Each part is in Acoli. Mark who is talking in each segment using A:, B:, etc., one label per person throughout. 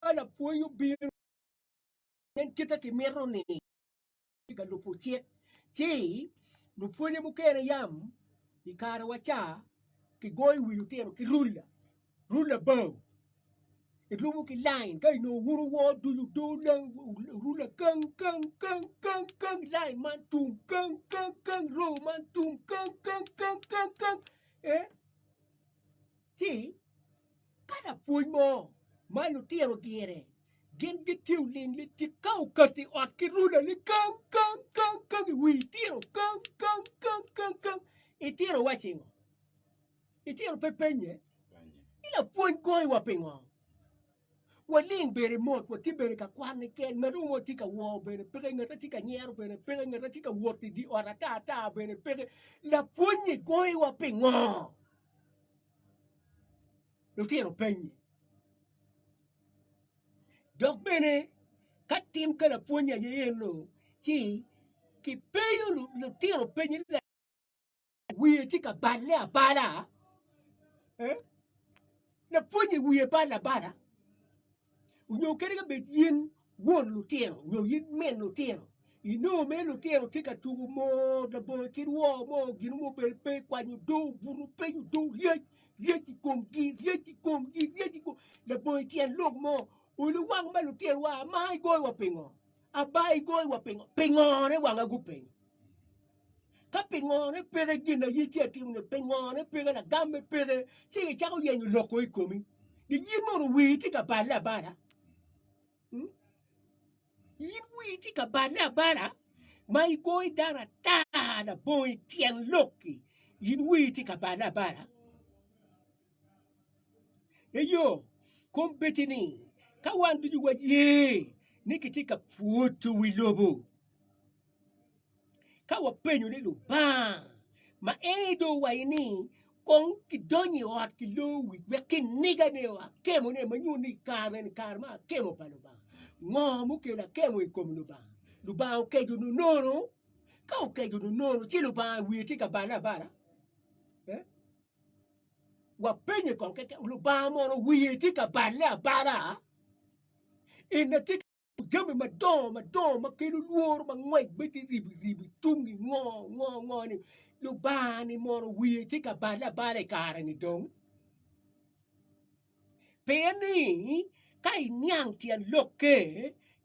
A: ka lapwony obino nen kite ki mito ni tye ka lubo cik ci lupwonye mukene yam i kare wa ca ki goyo wi lutino ki rula rula bao i lubo ki line ka i nongo wun wor ducu rula kang kang kang kang kang line man tung kang kang kang row man tung kang kang kang kang kang eh ci ka lapwony mo ma lutino dyere gin gitiyo ling litik ka okato i ot ki rula ni kang kang kang kang i wi itino kang kang kang kang kang itino wacci ngo itino pe penye ni lapwony goyo wa pingo waling bene mot watye bene ka kwan keken ngat mo tye ka wor bene peke ngat tye ka nyero bene peke ngat tye ka wot i di ot ata ata bene peke lapwony ni goyo wa pingo lutino penyi dok bene ka tim ka lapwony aye eno ci kipenyo lutino penyi wiye tye ka balle abala lapwonye wiye balle abala onyo kadi ka bed in won lutino onyo in min lutino inongo mere lutino tye ka tuku mo labongo ki rwoo mo gin mo obedo pe ikwanyo odo obuto piny odo ryec ryec i komgi ryec i komgi ryec i komgi labongo ityen lok mo olu wang ma lutino wa ama igoyo wa pingo aba igoyo wa pingo pingo ne wanga gupenyo Ka pingone peke gin aye ci atimo ne pingone peke lagame peke ci icako yenyo loko i komi di yin mono wii tye ka balle abala hmm? yin wii tye ka balle abala ma igoyi dano ata labongo i tyen lokki yin wii tye ka balle abala eyo kom beti ni ka wan ducu waye ni kitye ka pwoto wi lobo Ka wapenyo ni Lubanga ma en aye dong owaco ni kong kidonyo i ot ki lor wi wek kinigane o akemone ma nyuto ni kare meni kare me akemo pa Lubanga, ngo mukelo akemo i kom Lubanga? Lubanga okeco nonono? Ka okeco nonono ci Lubanga wiye tye ka balle abala? Wapenye kong keken, Lubanga mono wiye tye ka balle abala? Jami madongo madongo ma kelo lworo ma ngwec bedo ribi ribi tungi ngo ngo ngo ni Lubanga ni mono wiye tye ka bale abala i kare ni dong. Pien ni ka iniang tyen lokke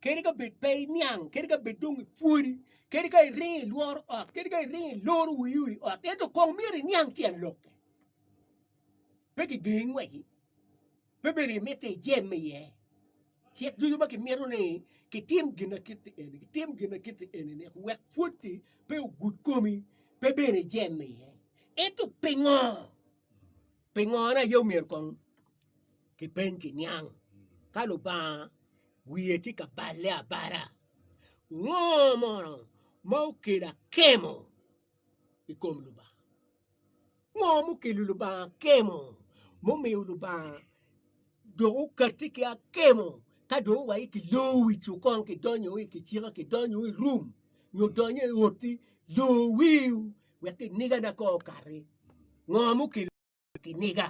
A: kadi ka bed pe iniang kadi ka bed dong ipwodi kadi ka iringo ilworo ot kadi ka iringo iloro wiyi wi ot ento kong myero iniang tyen lokke pe kigengi ngweci. Pe bedo ni mitte ijemme iye. Cik ducu ma kimito ni kitim ginakiti eni, kitim ginakiti eni-ni wek pwotti pe ogud komi, pe bedo ijemme iye. Ento pingo? Pingone aye omyero kong kipeny ki niang ka Lubanga wiye tye ka balle abala. Ngo mono ma okelo akemo i kom Lubanga? Ngo mukelo Lubanga akemo mumiyo Lubanga dok okati ki akemo ka dong owaci ki lor wi cukon ki donyo i kicika ki donyo i rum nyo donyo i oti lor wiu wek kiniga na ko okati ngo mukelo kiniga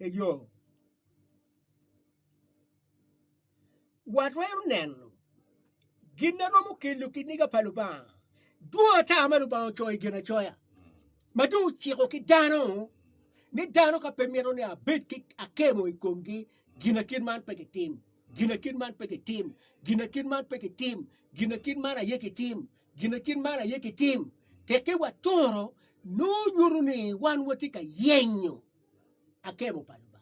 A: eyo Watwero neno gin ma romo kelo kiniga pa Lubanga. Dwong ata ma Lubanga ocoyo i Ginacoya ma dong ociko ki dano ni dano ka pe mito ni abed ki akemo i komgi, ginakit man pe kitim, ginakit man pe kitim, ginakit man pe kitim, ginakit man aye kitim, ginakit man aye kitim. Tekki waturo nongo nyuto ni wan watye ka yenyo akemo pa Lubanga.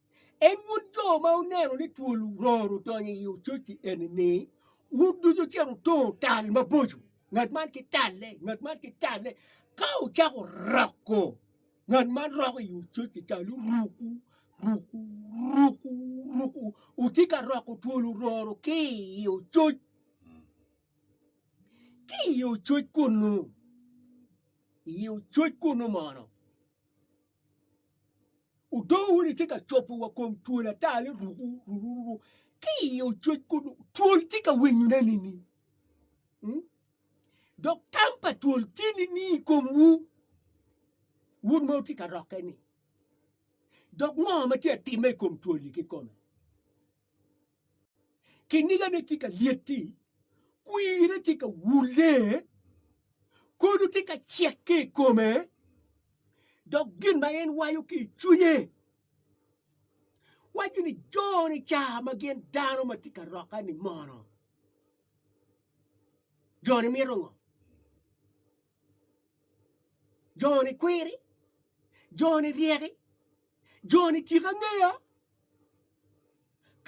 A: En wun jo ma wuneno ni twol ror odonyo i ococ-ci eni-ni, wun ducu wucito wutongo tal maboco, ngat man ki talle, ngat man ki talle, ka wucako roko, ngat man roko i ococ-ci ca ni ruku, ruku, ruku, ruku, wutye ka roko twol ororo ki i ococ, ki i ococ kunu, i ococ kunu mono. Odoo wun itye ka cobo wa kom twol ata ni ruku ruku ruku ki i ococ kun twol tye ka winyo ne ni ni. Hmm? Dok tam pa twol tye ni ni i kom wu wun ma utye ka rokke ni. Dok ngo ma tye atime i kom twol ki kome. Kinigane tye ka lyeti, kwirre tye ka wulle, kolu tye ka cek ki i kome, dok gin ma en waco ki i cwinye waco ni jo-ni ca ma gin dano ma tye ka rokke-ni mono jo-ni mito ngo? Joni kwiri, joni ryeki, joni tika ngeya.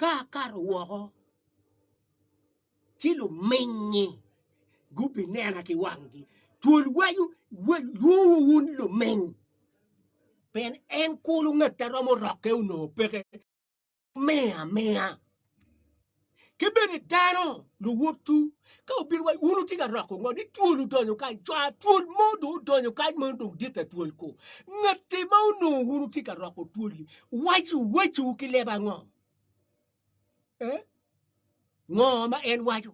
A: Ka akato woko ci lumingngi gubinena ki wanggi, twol waco lwongo wun luminy, pien en kulu ngat a romo rokke onongo peke. me amiya. Ki bene dano luwotwu ka obino wa wun wutye ka roko ngo ni twol odonyo kany cwa twol mo dong odonyo kany ma dong dit ta twol ko ngati ma onongo wun wutye ka roko twoli waci waciwu ki leba ngo eh? ngo ma en waco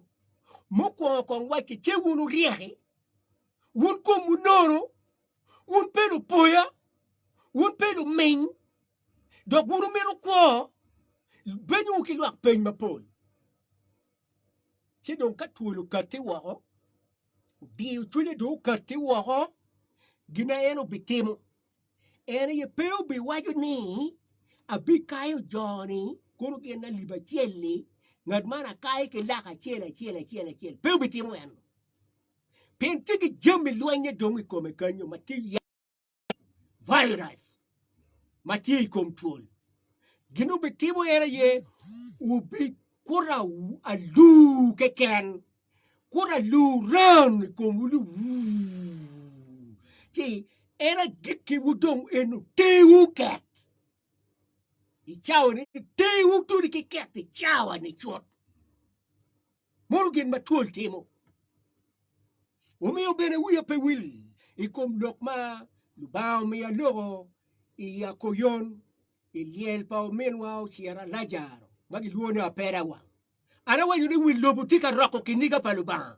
A: mukwongo kong wacce ce wun wuryeki wun komwu nono wun pe lupoya wun pe luminy dok wun wumito kwo benyowu ki lwak peny mapol. Ci dong ka twol okatti woko, diyo cwinye dong okatti woko, gin en obitimo, en aye pe obiwaco ni, abikayo jo-ni, kono gin alip acel-li, ngat man akaye ki laka acel acel acel acel, pe obitimo eno, pien tye ki jami lweny-nge dong i kome kenyo ma tye virus ma tye i kom twol. Gin wubitimo en aye wubikuto aluu keken, kuto aluu ran i komwu ni wuu, ci en agikkiwu dong en otewu ket i cawani, tewu todi ki ket i cawani cut. Mom gin ma twol timo omiyo bene wiya pe wil i kom lok ma Lubanga omiya loko i Yakoyon i lyel pa ominwa ocira Lajaro ma gilwongo ni Apera wang. An awaco ni wil lobo tye ka roko kiniga pa Lubanga.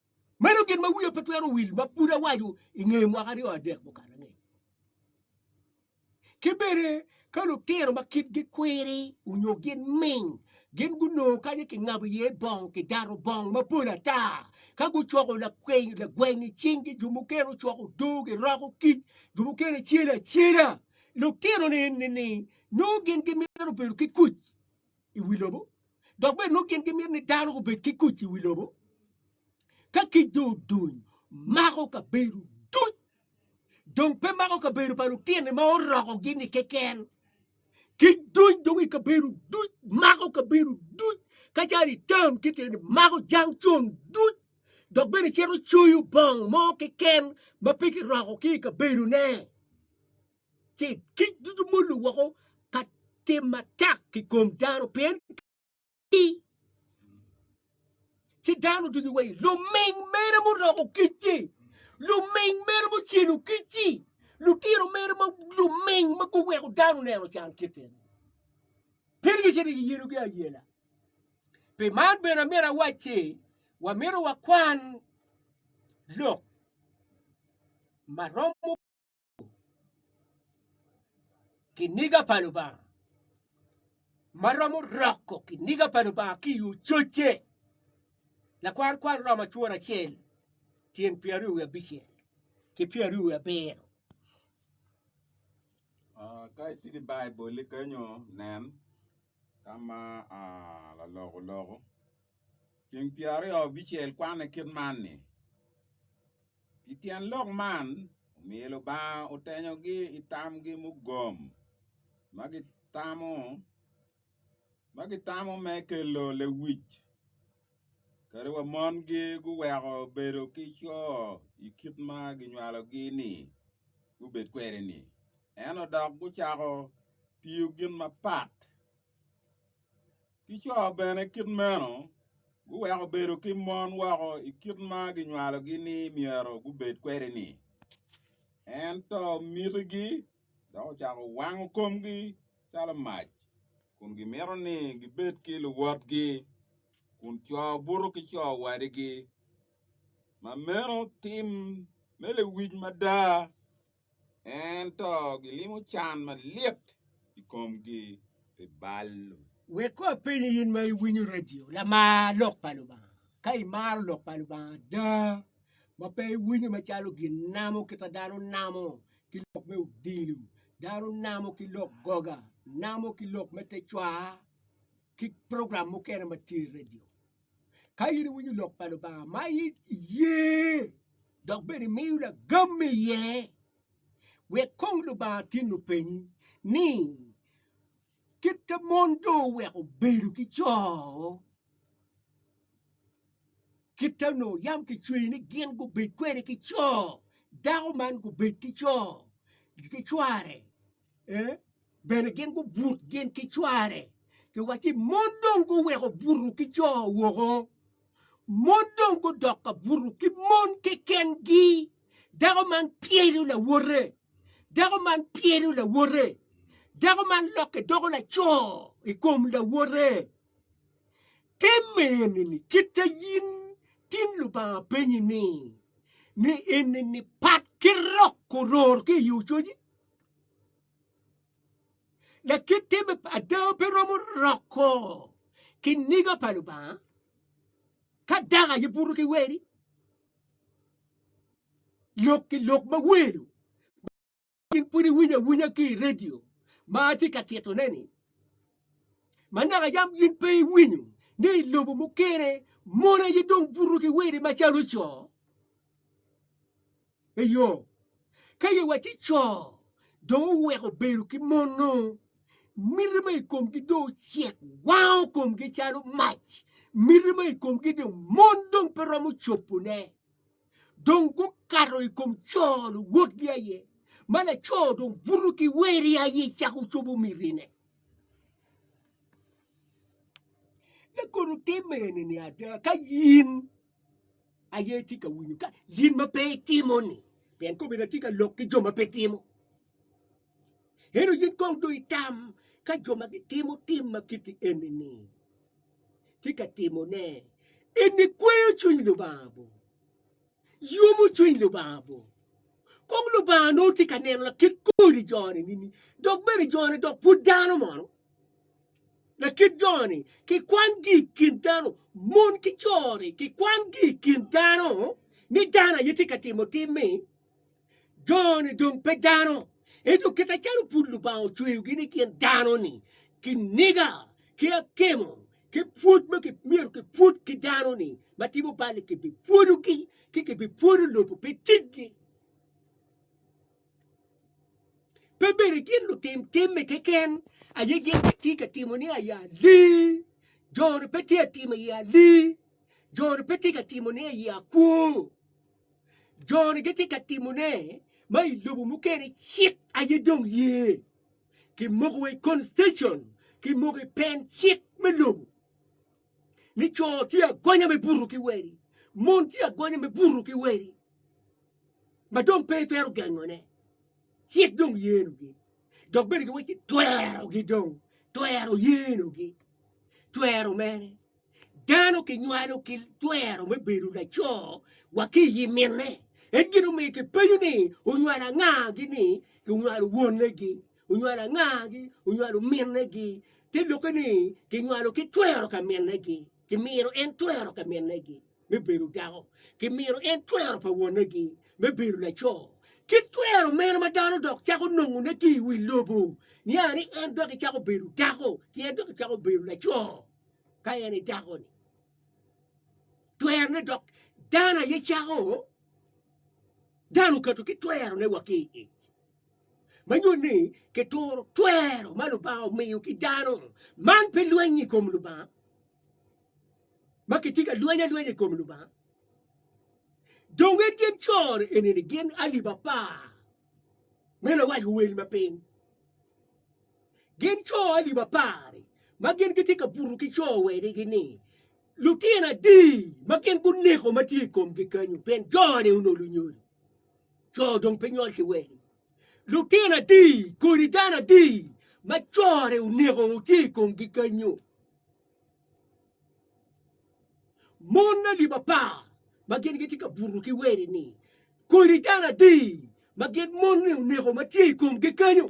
A: Meno gin ma wiya pe twero wil ma pud awaco i nge mwaka aryo adek mukato angec. Ki bene ka lutino ma kitgi kwiri onyo gin ming, gin gunongo kanya kingabo iye bong, kidato bong mapol ata. Ka gucoko lakwiny, lagweng i cinggi, jo mukene ocoko odoo, giroko kic, jo mukene celo acela. Lutino-ni nongo gin gimito bedo ki kuc. i wi lobo dok bene nongo gin gimito ni dano obed ki kuc i wi lobo ka kic dong oduny mako kabedo duc dong pe mako kabedo pa lutini ma orokogi ni keken kic duny dong i kabedo duc mako kabedo duc ka calo itam kit eni mako jang con duc dok bene cito coyo bong mo keken ma pe kiroko ki i kabedone. ci kic ducu molo woko ka tim matek ki kom dano pien ki ci dano ducu wai luming mere muroko kicci luming mere mucelo kicci lutino mere ma luming ma guweko dano neno can kite pien gicito giyelogi ayela pi man bene amito awacci wamito wakwan lok ma romo kiniga pa Lubanga ma romo roko kiniga pa Lubanga ki yo cocce lakwar kwar romo acwor acel tyen pyeraryo wiye abicel ki pyeraryo wiye abiro.
B: Ah, ka itye ki Baiboli kenyo nen ka ma ah, lalok oloko. Tyeng pyeraryo abicel kwanne kit man ni. Pi tyen lok man, omiyo Lubanga otenyogi i tamgi mugom ma gitamo ma gitamo me kelo lewic kadi wa mongi guweko bedo ki co i kit ma ginywalogi ni gubed kwede-ni, ento dok gucako tiyo gin mapat. Ki co bene kit meno, guweko bedo ki mon woko i kit ma ginywalogi ni myero gubed kwede-ni. Ento mitigi dok ocako wango komgi calo mac, kun gimito ni gibed ki luwotgi, kun co buto ki co wadigi. Ma meno tim me lewic mada! ento gilimo can malit i komgi pi bal-lu. Wek kong apenyi
A: in ma iwinyo radio, lamar Lok pa Lubanga. Ka imaro Lok pa Lubanga ada, ma pe iwinyo macalo gin namo kit ma dano namo ki lok me odilo, dano namo ki lok goga, namo ki lok me te cwaa, ki program mukene ma tye i radio. Ka in iwinyo lok pa Lubanga ma iye dok bene imiyo lagam iye, wek kong Lubanga tin openyi ni kit ma mon do oweko bedo ki co, kit ma onongo yam kicweyo ni gin gubed kwede ki co, dako man gubed ki co ki cware. Bene gin gubut gin ki cware, giwacci, Mon dong guweko buto ki co woko, mon dong gudok ka buto ki mon kekengi. Dako man pyelo lawote, dako man pyelo lawote, dako man lokke doko laco i kom lawote. Te mene-ni kit a in tin Lubanga penyi-ni, ni eni-ni pat ki rok oror ki i ococ-ci? Lakitte me ada pe romo roko ki niga pa Lubanga ka dak aye buto ki weri lok ki lok ma welo in pud iwinyo awinya ki i redio ma atye ka titone-ni ma naka yam in pe iwinyo ni i lobo mukene mon aye dong buto ki weri macalo co Eyo, ka ye wa ci co dong oweko bedo ki mon-nu, miti ma i komgi dong ocek wango komgi calo mac, miti ma i komgi dong mon dong pe romo cobone, dong gukato i kom co luwotgi aye, ma laco dong buto ki weri aye cako cobo mitine. Lakodo timme eni-ni ada, ka in aye itye ka winyo ka yin ma pe itimo-ni pien kome na tye ka lok ki jo ma pe timo eno yin kong do itam ka jo ma gitimo tim ma kiti eni-ni tye ka timone eni kweyo cwiny lubanga bo yomo cwiny lubanga bo kong lubanga nongo tye ka neno lakit kodi jone nini dok bene jone dok pud dano mono Lakit jo-ni kikwangi i kin dano, mon ki co-ni kikwangi i kin dano, ni dano aye tye ka timo tim-mi, jo-ni dong pe dano. Ento kite calo pud Lubanga ocweyogi ni gin dano-ni, kiniga ki akemo ki pwod ma myero kipwod ki dano-ni ma timo bal-li kibipwodogi ci kibipwodo lobo pi ticgi. Pe bene gin lutim timme keken aye gin gitye ka timo ni aye ali. Jo-ni pe tye ka timo aye ali. Jo-ni pe tye ka timo ni aye akwo. Jo-ni gitye ka timo ne ma i lobo mukene cik aye dong ye. Kimoko wa i constitution, kimoko i pen cik me lobo. ni co tye agonya me buto ki weri, mon tye agonya me buto ki weri, ma dong pe itwero gengone, cik dong yenogi, dok bene giwacci twerogi dong, twero yenogi, twero mere. Dano kinywalo ki twero me bedo laco wa ki i minne, en gin omiyo kipenyo ni onywalo anga gini kinywalo wonegi. onywalo angagi, onywalo minnegi, te lokke ni kinywalo ki twero ka minnegi, kimino en twero ka minnegi me bedo dako, kimino en twero pa wonegi me bedo laco. Ki twero meno ma dano dok cako nongone ki i wi lobo, nia ni en dok icako bedo dako, ci en dok icako bedo laco ka en i dakoni. Twerone dok dano aye cako, dano okato ki twerone wa ki i ic. ma nyuto ni kituro twero ma Lubanga omiyo ki dano. Man pe lweny i kom Lubanga ma kitye ka lweny alwenya i kom Lubanga. Dong en gin cor enini gin alip apar me lawac wel ma piny. Gin cor alip apar ma gin gitye ka buto ki cor wedigi ni lutino adi ma gin guneko ma tye i komgi kanyo pien jone onolo nyol. Co dong pe nyol ki wegi. Lutino adi kodi dano adi ma core oneko tye i komgi kanyo? Mon na lib apar ma gin gitye ka buto ki weri ni kodi dano adi ma gin mon ni oneko ma tye i komgi kanyo?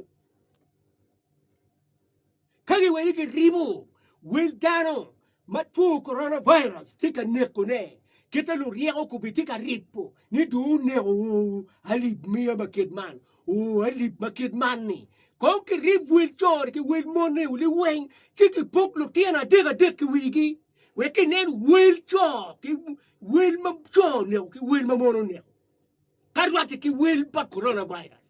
A: Ka giweli giribo wel dano ma two coronavirus tye ka nekone, kite luryeko kobbe tye ka ripo ni dong oneko oo alip miya ma kit man, oo alip ma kit man-ni. Kong kirib wel co-ni ki wel mon-ni oli weng, ci kipok lutino adek adek i wigi, wek kinen wel co ki wel ma co oneko ki wel ma mon oneko, ka rwatte ki wel pa coronavirus.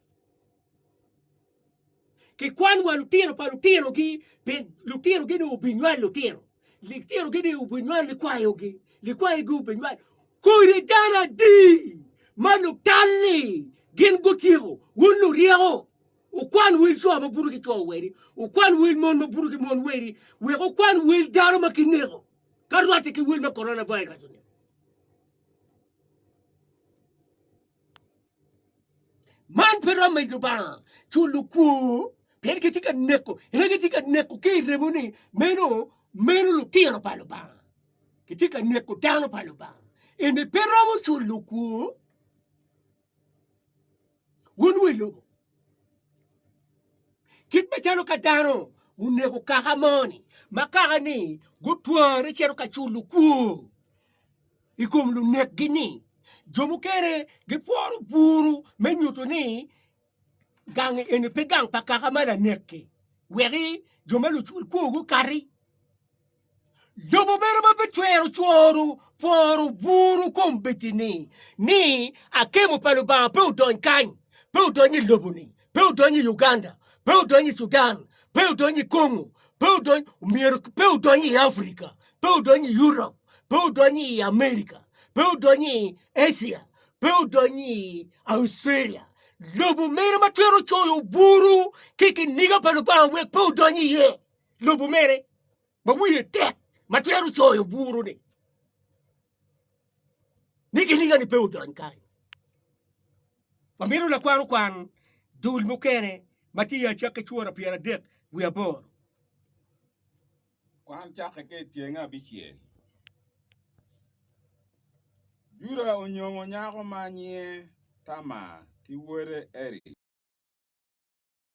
A: Kikwan wa lutino pa lutinogi, pien lutinogi ni obinywal lutino. Litinogi ni obinywal likwayogi, likwayogi obinywal. Kodi dano adi ma lutal-li gin gutyeko, wun luryeko? Wukwan wel co ma buto ki co wadi, wukwan wel mon ma buto ki mon wadi, wek wukwan wel dano ma kineko, ka rwatte ki wel ma Corona Virus-ni. Man pe romo i Lubanga culo kwor pien kitye ka neko ene kitye ka neko ki i remo ni meno meno lutino pa Lubanga kitye ka neko dano pa Lubanga ene pe romo culo kwor wun wa i lobo kit macalo ka dano oneko kaka moni ma kaka ni gutware cito ka culo kwor i kom lunekgi ni jo mukene gipworo buru me nyuto ni gang eni pe gang pa kaka ma lanekki weki jo ma lucul kwo gukati lobo mere ma pe twero cworo pworo buru kom bedi-ni ni akemo pa Lubanga pe odony kany pe odony i lobo-ni pe odonyo i Uganda, pe odonyo i Sudan, pe odonyo i Congo, pe odonyo myero pe odonyo i Africa, pe odonyo i Europe, pe odonyo i America, pe odonyo i Asia, pe odonyo i Australia. Lobo mere ma twero coyo buru ki kiniga pa Lubanga wek pe odonyo iye. Lobo mere ma wiye tek ma twero coyo buru ni. ni giniga-ni pe odony kany. Wamito lakwar okwan dul mukene ma tye i Acakke cura pyeradek wiye aboro.
B: Kwan cakke ka i tyeng abicel. Juda onyongo nyako ma nyinge Tamar ki wode Eric.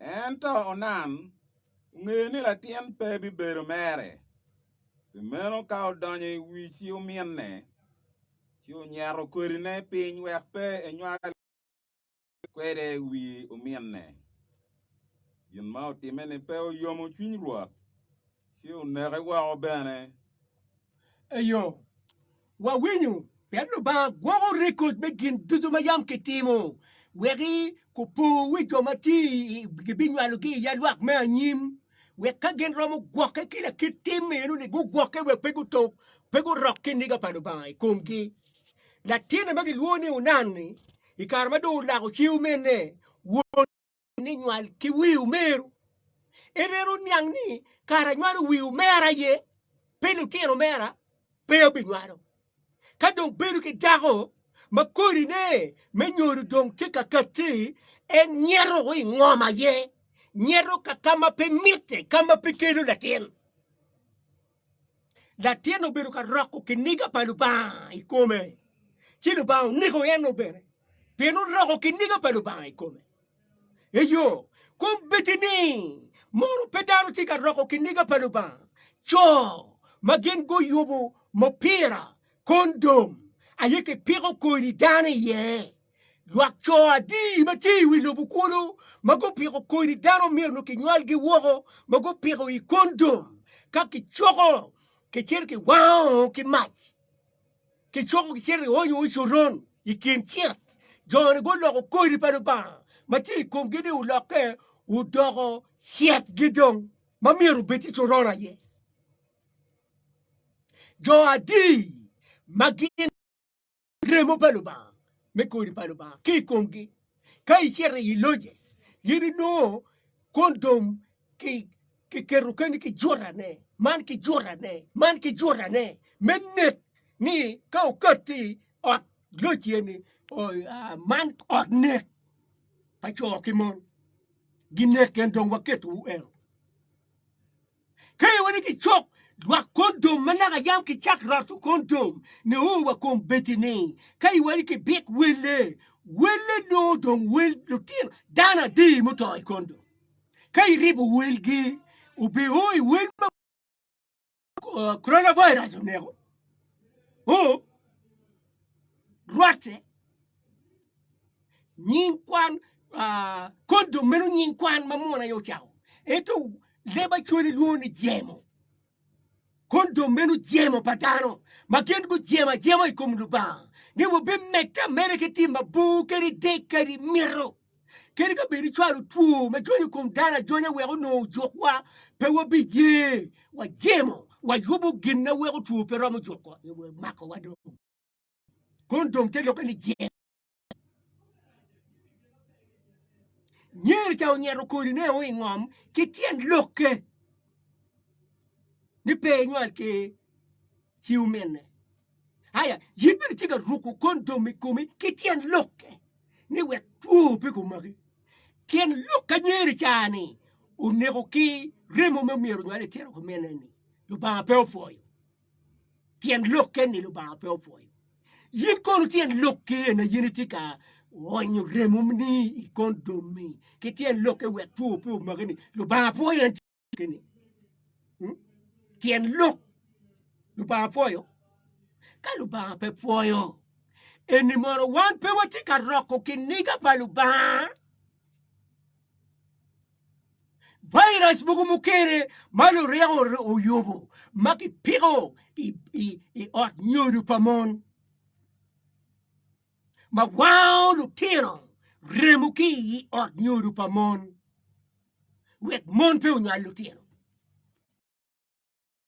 B: Ento Onan ongeyo ni latin pe bibedo mere, pi meno ka odonyo i wi ci ominne, ci onyeto kodine piny wek pe enywal kwede i wi ominne. Gin ma otimme-ni pe oyomo cwiny Rwot, ci oneke woko bene.
A: Eyo. Wawinyo, pien Lubanga gwoko rekod me gin ducu ma yam kitimo, weki kupo wi jo ma tye gibinywalogi i yalwak me anyim, wek ka gin romo gwokke ki lakit tim meno ni gugwokke wek pe gutuk, pe gurok kiniga pa Lubanga i komgi. Latinne ma gilwongo ni Onan-ni, i kare ma dong olako ceu mene, won ni nywal ki wi omeru. En en oniang ni kara nywalo wi omera ye, pe lutino mera pe obinywalo. Ka dong bedo ki dako ma kodine me nyodo dong tye ka katti, en nyeto i ngom aye, nyeto ka ka ma pe mitte, ka ma pe kelo latin. Latin obedo ka roko kiniga pa Lubanga i kome, ci Lubanga oneko en-nu bene, pien oroko kiniga pa Lubanga i kome. Eyo, kom bedi ni mono pe dano tye ka roko kiniga pa Lubanga, co ma gin guyubo mupira, kondom, aye kipiko kodi dano iye. Lwak co adi ma tye i wi lobo kulu ma gupiko kodi dano myero kinywalgi woko ma gupiko i kondom ka kicoko kicito kiwango ki mac kicoko kicito kionyo coron i kin cit joni guloko kodi pa Lubanga ma tye i komgi ni olokke odoko citgi dong ma myero obed tye coron aye jo adi ma gin remo pa Lubanga me kodi pa Lubanga ki i komgi. Ka icito i loje, in inongo kwon dom ki kiketo keni ki jutane, man ki jutane, man ki jutane, me nek ni ka okatti ot loc eni, man ot nek pa co ki mon, ginek en dong waketo eno. Ka i wani ki cok lwak kondom ma naka yam ki cak roto kondom ne o wa kom beti ni ka i wani ki bik welle welle no dong wel lutino dano adi muto i kondom ka i ribo welgi obe o i wel ma uh, coronavirus oneko o rwatte nying kwan kondom meno nying kwan ma muno aye ocako ento leb acwali lwongo ni jemo kondom meno jemo pa dano ma gin gujemo ajema i kom lubanga ni wabimedde ameda ki tim mabor kadi dek kadi mito kadi ka bedi cwalo two ma jony i kom dano ajonya wek onongo ojukwa pe wabiye wajemo wayubo gin ma weko two pe romo jukowa makowa dong kondom te lube ni jemo Nyer ca onyeto kodi ne o ingom ki tyen lokke ni pe inywal ki ci omine. Aya, yin bene tye ka ruko kondom i komi ki tyen lokke ni wek two pe kumaki. Tyen lok ka nyeri ca ni oneko ki remo me myero onywal i tyeno kumine ni Lubanga pe opwoyo. tyen lok keni Lubanga pe opwoyo. Yin kono tyen lok keni na yin itye ka onyo remoni i kon domi ki tyen lok ke wek two pe omaki ni Lubanga pwoyo en keni. Hmm? Tyen lok Lubanga pwoyo? Ka Lubanga pe pwoyo, eni mono wan pe watye ka roko kiniga pa Lubanga? Virus mogo mukene ma lureko oyubo ma kipiko i ot nyodo pa mon ma wango lutino remo ki i ot nyodo pa mon wek mon pe onywal lutino.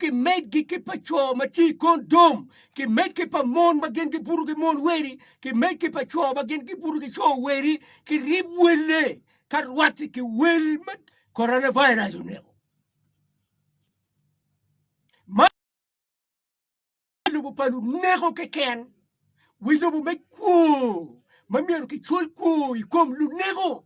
A: kimed gi ki pa co ma tye i kondom, kimed ki pa mon ma gin gibuto ki mon weri, kimed ki pa co ma gin gibuto ki co weri, kirib welle ka rwate ki wel ma coronavirus oneko. Wi lobo pa luneko keken, wi lobo me kwo ma myero kicwol kwo i kom luneko.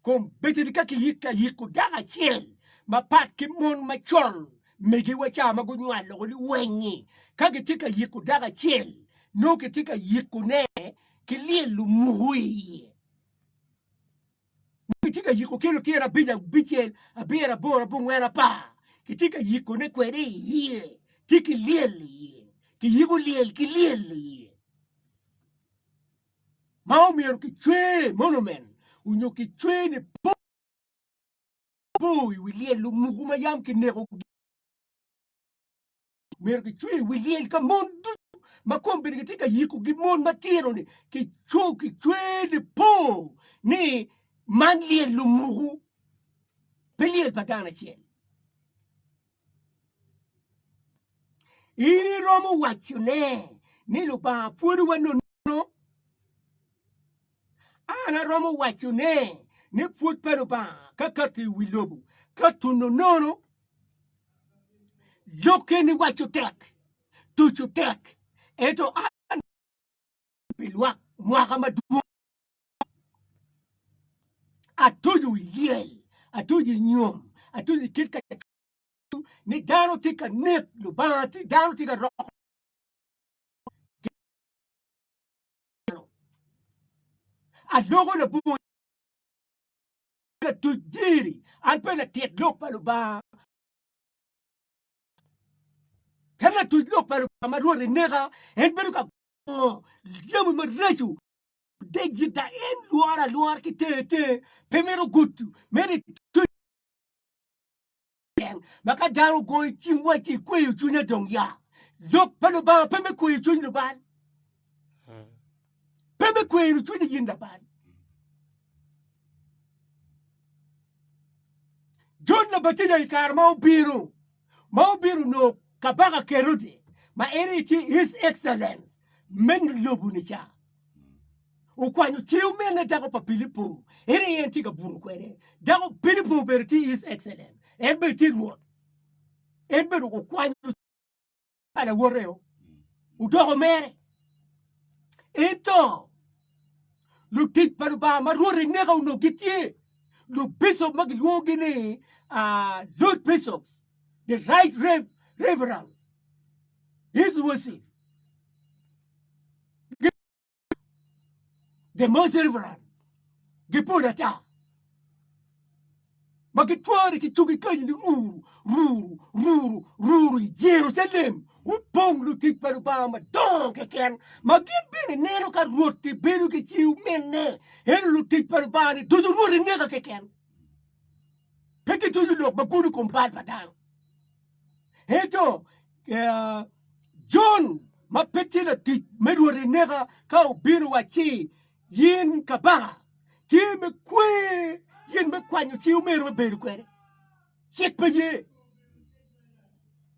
A: Kom beteni ka kiyiko ayiko dako acel mapat ki mon macol megiwa ca ma gunywalo loko liweny-nyi ka gitye ka yiko dako acel nongo kitye ka yikone ki lyel lumuku iye. Kitye ka yiko kelo tyer abic abicel abiro aboro abongwen apar kitye ka yiko ne kwede i iye tye ki lyel i iye kiyiko lyel ki lyel i iye ma omyero kicwer monumen onyo kicwer ni po i wi lyel lumuku ma yam kineko Myero gicwe wigi ka mon ducu ma kombeddi gitye ka yikogi mon matino-ni kico kicwer lipo ni man lyel lumuku pe lyel pa dano acel. In iromo wacone ni Lubanga pwodowa nono An aromo waco ne ni pwod pa Lubanga kakato i wi lobo, ka tuno nono lok keni waco tek, tuco tek, ento an pi lwak mwaka madwong atuco i lyel, atuco i nyom, atuco i kit ka ni dano tye ka nek Lubanga, dano tye ka roko dano. Aloko labongo latuc diri, an pe latit lok pa Lubanga. Ka latuc lok pa Lubanga ma Rwot eneka, en bedo ka gongo jami maraco de yita, en lworo alwora ki ter ter, pe mito gudo, meno ituc Pien ma ka dano ogoyo cim wa ci ikweyo cwinye dong ya. Lok pa Lubanga pe me kweyo cwiny lubal. Pe me kweyo cwiny yin labal. Jon Labatija i kare ma obino ma obino onongo kabaka Kerode ma en aye tye His Excellence me lobo-ni ca. Okwanyo ce omene dako pa Pilipo, en aye en tye ka buto kwede. Dako Pilipo obedo tye His Excellent, en bedo tye Rwot. En bedo okwanyo pa lawoteo, odoko mere. Ento lutic pa Lubanga ma Rwot eneka onongo gitye lubicop ma gilwongogi ni uh, Lord Bishops, the Right Rev. Reverends, His Worship. the most reverend gipol ata ma gitwore ki cuk ikanyi ni ruru ruru ruru ruru i Jerucalem opong lutic pa Lubanga madongo keken ma gin bene neno ka Rwot ki bedo ki ci omine eno lutic pa Lubanga ni ducu Rwot ineka keken pe gituco lok ma gudo kom bal pa dano Ento Jon ma pe tye latic me Rwot eneka ka obino owacci, 'In kabaka tye me kwer, in me kwanyo ci omyero wabedo kwede. Cik pe ye.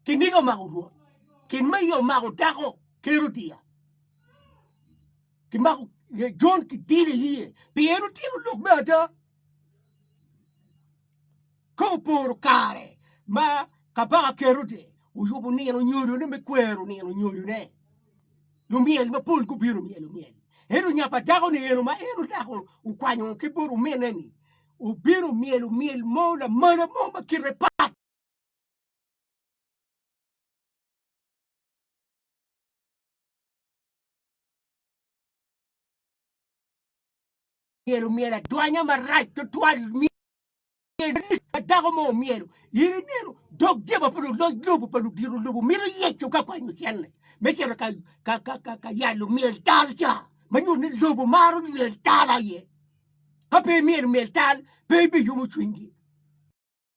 A: Kiniga omako Rwot, kiniga omako dako Kerodia, kimako Jon kidilo iye pien otito lok me ada. Ka oporo kare ma Kabaka Kerode oyubo nino nyodone me kwero nino nyodone, lumyel mapol gubino myelo myel. Ento nyapa dakoni eno ma en odako okwanyo ki bot ominne-ni obino myelo myel mo lamala mo ma kite pat. myero omyel adwanya marac tutwal myel lik ma dako mo omyelo in ineno dog jeba pa luloc lobo pa ludiro lobo mito yeco ka kwanyo cenne me cito ka ka ka ka, ka yalo myel tal ca ma nyuto ni lobo maro myel tal aye ka pe imyelo myel tal pe ibiyumo cwinygi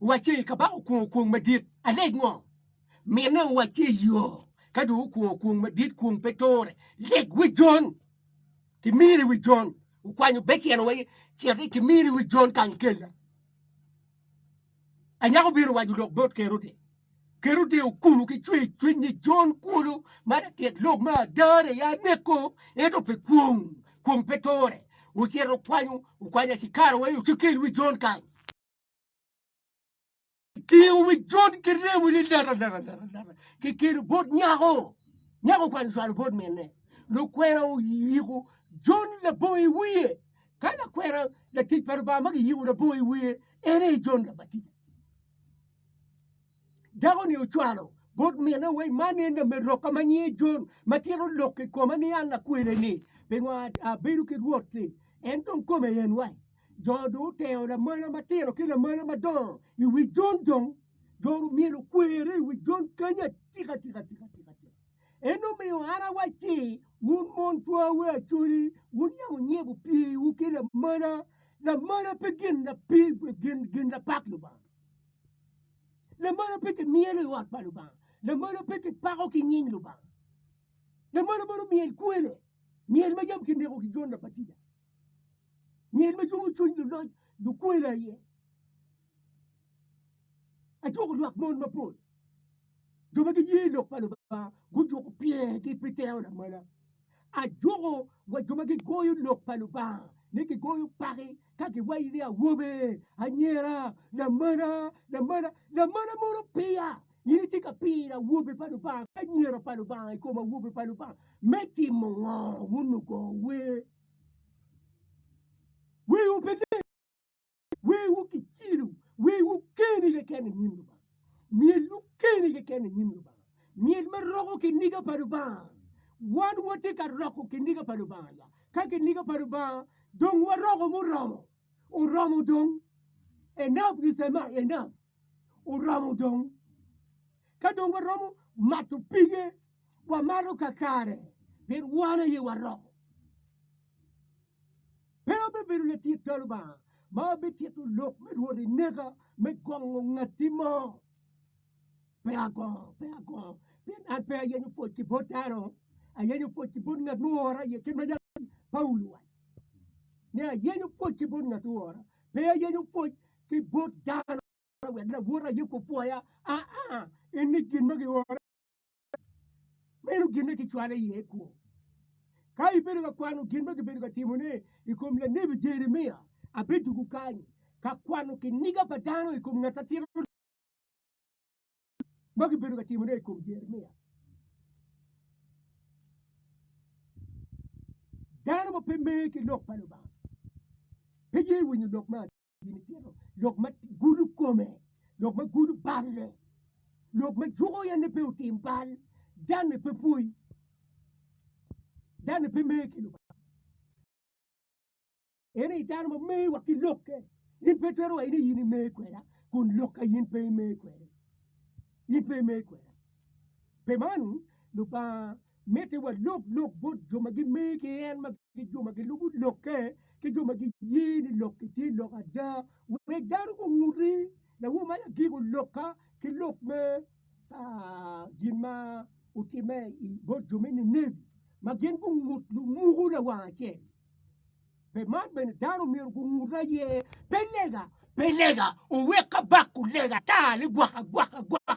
A: Wacce, Kabaka okwongo kwong madit, alec ngo? Mine, Wacce, Iyo, ka dong okwongo kwong madit, kwong pe ture. Lek wi Jon, kimiri wi Jon, okwanyo becen wa cit ni kimiri wi Jon kang kella. Anyaka obino waco lok bot Kerode. Kerode okuno ki cwer cwinnye Jon kwolo ma latyek lok ma ada aye ya neko, ento pe kwong, kwong pe tore. Ocito okwanyo okwanyo acikara wai ocekel wi Jon kany. Tingo wi Jon ki remo ni lata lata lata lata kikelo bot nyako. Nyako okwanyo cwalo bot minne. Lukwena oyiko Jon labongo i wiye. Ka lakwena latic pa Lubanga ma giyiko labongo i wiye en aye Jon Labatija. Dako-ni ocwalo bot mine wai, Man en lameroka ma nyinge Jon, ma tito lok i koma ni an lakwene-ni, pingo abedo ki Rwot-ti? En dong kome yen wai. Jo dong otero lamola matino ki lamola madongo i wi Jon, dong jo myero gukwere i wi Jon kany atika tika. En omiyo an awacci, Wun mon cwawu acwali, wun yam wunyibo piwu ki lamola, lamola pe gin lapak Lubanga. Lamolo pe kimyelo i ot pa Lubanga, lamolo pe kipako ki nying Lubanga, lamolo mono myel kwele, myel ma yam kineko ki Jon Labatija, myel ma yomo cwiny luloc lukwela aye. Ajwoko lwak mon mapol. Jo ma giye i Lok pa Lubanga gujuko pyergi pi tero lamola. Ajuko wa jo ma gigoyo Lok pa Lubanga ni gigoyo paki ka giwaci ni awobe, anyira, lamola, lamola, lamola mono piya. In itye ka piro awobe pa Lubanga ki anyira pa Lubanga i kom awobe pa Lubanga me timo ngo? Wun lugo wer, werwu pe leng. Wewu kicilu, wewu keni keken i nyim Lubanga. Myelwu keni keken i nyim Lubanga. Myel ma roko kiniga pa Lubanga. Wan watye ka roko kiniga pa Lubanga ya. Ka kiniga pa Lubanga dong waroko muromo. Oromo dong. Enough is enough. Enough. Oromo dong. Ka dong waromo mato pige, wamato kakare. Pien wan aye waroko. Pe obibedo latit dog Lubanga ma obitito lok me Rwot i neka me gongo ngatti mo. Pe agongo, pe agongo, pien an pe ayenyo pwoc ki bot dano, ayenyo pwoc ki bot ngat muora iye, kit ma jaki Paulo owaco ni ayenyo pwoc ki bot ngat muora, pe ayenyo pwoc ki bot dano wek lawota aye opwoya, aa, eni gin ma giora. meno gin ma gicwalo iye kwo. Ka ibedo ka kwano gin ma gibedo ka timone i kom lanebi Jeremia, abidugo kany ka kwano kiniga pa dano i kom ngat atira ma gibedo ka timone i kom Jeremia. Dano ma pe mer ki lok pa Lubanga pe ye winyo lok me lok ma gudo kome, lok ma gudo balle, lok ma juko en ni pe otim bal, dano-ni pe pwoyi, dano-ni pe mer ki Lubanga. En aye dano ma mer wa ki lokke, in pe itwero waci ni in imer kweda kun lokka in pe imer kwede, in pe imer kweda. Pi meno Lubanga Mitte walub lok bot jo ma gime ki en ma ki jo ma gilubo lokke ki jo ma giye ni lokki tye lok ada wek dano gungut ni lawo man agiko lokka ki lok me gin ma otimme bot jo me Ninebi ma gin gungut lumuku lawang acel. Pe man bene dano myero gungut aye pe lega pe lega owek ka bako lega ata ligwaka gwaka gwaka.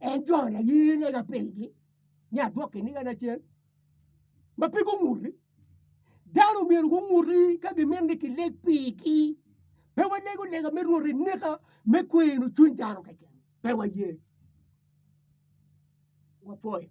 A: En joni aye lega pigi ni adwok kiniga nacel ma pe gunguti. Dano myero gunguti ka gimito ni kileg pigi. Pe walego lega me rwot i nika me kweno cwiny dano keken. Pe waye. Wapwoyo.